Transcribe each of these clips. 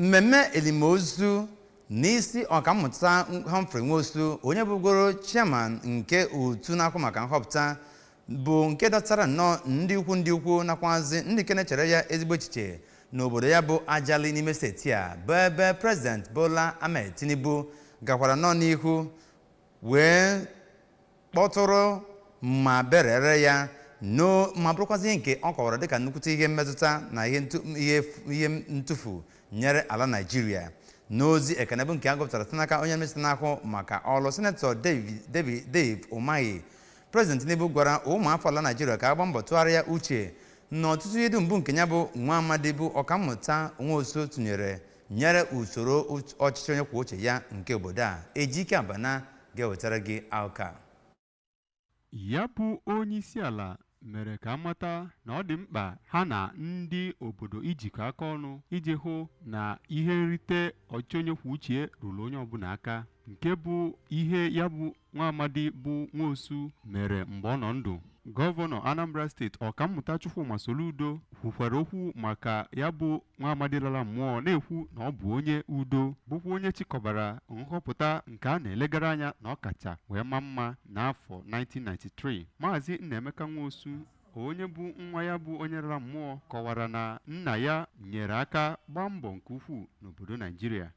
mmemme elimozu n'isi ọkammụta Humphrey Nwosu onye bụgoro chairman nke otu na-ahụ maka nhọpụta bụ nke dọtara nnọọ ndị ukwu ndị ukwu nakwazi ndị nke na-echere ya ezigbo echiche n'obodo ya bụ Ajali n'ime steeti a bụ ebe President Bola Ahmed Tinubu gakwara nnọọ n'ihu wee kpọtụrụ ma berere ya ma bụrụkwazị ihe nke ọ kọwara dịka nnukwute ihe mmetụta na ihe ntụfu nyere ala naijiria n'ozi ekene bụ nke a gụpụtara site n'aka onye minista na-ahụ maka ọrụ sinetọ dave umahi prezident tinubu gwara ụmụafọ ala naijiria ka a gbaa mbọ tụgharịa uche na ọtụtụ ihe dum bụ nke ya bụ nwa amadi bụ ọkammụta nwosu tụnyere nyere usoro ọchịchị onye kwuo uche ya nke obodo a ejike abana ga-ewetara gị akụkọ a ya bụ onyeisiala mere ka a mata na ọ dị mkpa ha na ndị obodo ijikọ aka ọnụ iji hụ na ihe nrite ọchịchị onye kwuo uche ruru onye ọbụla aka nke bụ ihe ya bụ nwa amadi bụ Nwosu mere mgbe ọ nọ ndụ. Gọvanọ Anambra steeti Ọkammụta Chukwuma Soludo kwukwara okwu maka ya bụ nwa amadi lara mmụọ na-ekwu na ọ bụ onye udo bụkwa onye chịkọbara nhọpụta nke a na-elegara anya na ọ kacha wee maa mma n'afọ 1993. Maazị Nnaemeka Nwosu onye bụ nwa ya bụ onye lara mmụọ kọwara na nna ya nyere aka gbaa mbọ nke ukwuu n'obodo Naijiria.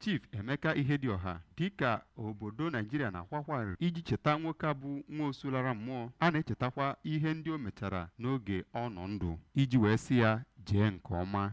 Chief Emeka Ihedioha dịka obodo Naijiria na-akwa akwa arịrị iji cheta nwoke a bụ Nwosu lara mmụọ a na-echetakwa ihe ndị o mechara n'oge ọ nọ ndụ iji wee sị ya jee nke ọma.